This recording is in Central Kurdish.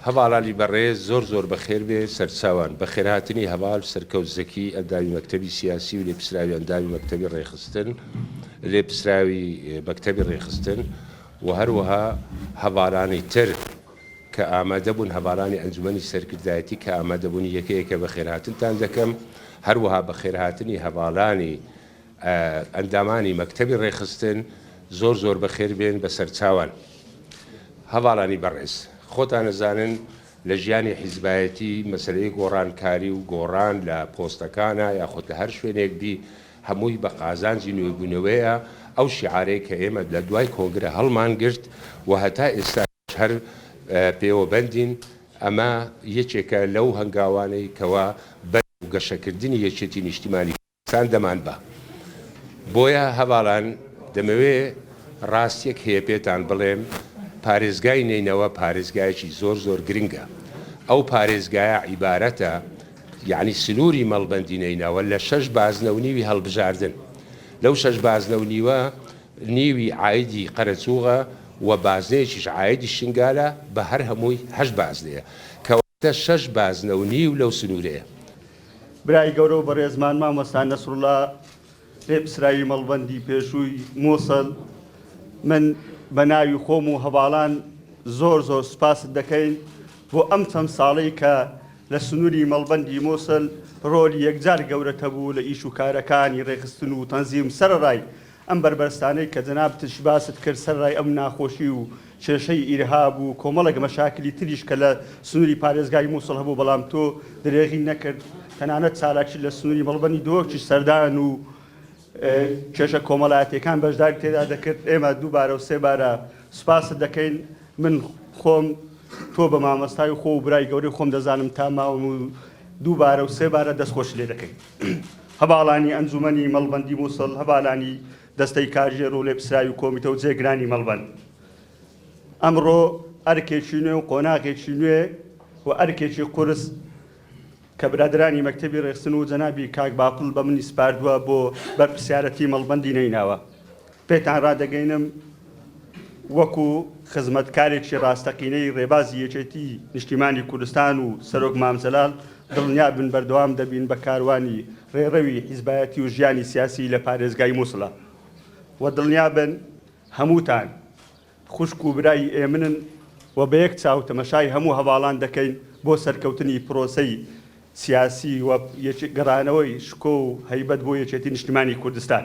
هەڤاڵ عەلی بەڕێز زۆر زۆر بەخێربێ سەرچاوان. بەخێرهاتنی هەڤاڵ سەرکەوت زەکی ئەندامی مەکتەبی سیاسی و لێپسراوی ئەندامی مەکتەبی ڕێکخستن لێپسراوی مەکتەبی ڕێکخستن و هەروەها هەڤالانی تر کە ئامادەبوون هەڤالانی ئەنجومەنی سەرکردایەتی کە ئامادەبوونی یەکە یەکە بەخێرهاتنتان دەکەم هەروەها بەخێرهاتنی هەڤالانی ئەندامانی مەکتەبی ڕێکخستن زۆر زۆر بەخێر بێن بەسەرچاوان. هەڤاڵانی بەڕێز، خۆتان ئەزانن لە ژیانی حیزبایەتی مەسەلەی گۆڕانکاری و گۆڕان لە پۆستەکانا یاخود لە هەر شوێنێک بی هەمووی بە قازانجی نوێبوونەوەیە، ئەو شیعارەی کە ئێمە لە دوای کۆنگرە هەڵمان گرت و هەتا ئێستاش هەر پێوە بەندین ئەمە یەکێکە لەو هەنگاوانەی کەوا بەرەو گەشەکردنی یەکێتی نیشتیمانی سان دەمان با. بۆیە هەڤاڵان دەمەوێ ڕاستیەک هەیە پێتان بڵێم پارێزگای نەینەوا پارێزگایەکی زۆر زۆر گرنگە ئەو پارێزگایە عیبارەتە یەعنی سنوری مەڵبەندی نەینەوا لە شەش بازنە و نیوی هەڵبژاردن لەو شەش بازنە و نیوە نیوی عایدی قەرەچوغە و بازنەیەکیش عایدی شنگالە بە هەر هەمووی هەشت بازنەیە کە تە شەش بازنە و نیو لەو سنوورەیە. برای گەورە و بەڕێزمان مامۆستا نەسروڵا لێپسراوی مەڵبەندی پێشووی موسڵ، من بە ناوی خۆم و هەڤاڵان زۆر زۆر سوپاست دەکەین بۆ ئەم چەند ساڵەی کە لە سنووری مەڵبەندی موسڵ ڕۆلی یەکجار گەورەت هەبوو لە ئیش و کارەکانی ڕێکخستن و تەنزیم سەرەڕای ئەم بەربەستانەی کە جەنابتش باست کرد سەرەڕای ئەم ناخۆشی و کێشەی ئیرهاب و کۆمەڵێک مەشاکلی تریش کە لە سنووری پارێزگای مووسڵ هەبوو بەڵام تۆ درێغی نەکرد تەنانەت چالاکی لە سنووری مەڵبەندی دۆکیش سەردان و کێشە کۆمەڵایەتیەکان بەشداری تێدا دەکرد ئێمە دووبارە و سێ بارە سوپاست دەکەین من خۆم تۆ بە مامەستای و خۆ و برای گەورەی خۆم دەزانم تا ماوم و دووبارە و سێ بارە دەست خۆش لێ دەکەین. هەڤاڵانی ئەنجومەنی مەڵبەندی موسڵ، هەڤالانی دەستەی کاژێر و لێپسراوی کۆمیتە و جێگرانی مەڵبەند ئەمڕۆ ئەرکێکی نوێ و قۆناغێکی نوێ و ئەرکێکی قورس کە برادەرانی مەکتەبی ڕێخستن و جەنابی کاک باقل بە منی سپاردوە بۆ بەرپرسیارەتی مەڵبەندی نەیناوە پێتان رادەگەینم وەکو خزمەتکارێکی راستەقینەی رێبازی یەکێتی نیشتیمانی کوردستان و سەرۆک مام جەلال دڵنیابن بەردەوام دەبین بە کاروانی رێڕەوی حیزبایەتی و ژیانی سیاسی لە پارێزگای موسڵ و دڵنیابن هەمووتان خوشک و برای ئێمنن و بە یەک چاو تەمەشای هەموو هەڤاڵان دەکەین بۆ سەرکەوتنی پرۆسەی سیاسی و گەڕانەوەی شکۆ و هەیبەت بۆ یەکێتی نیشتمانی کوردستان.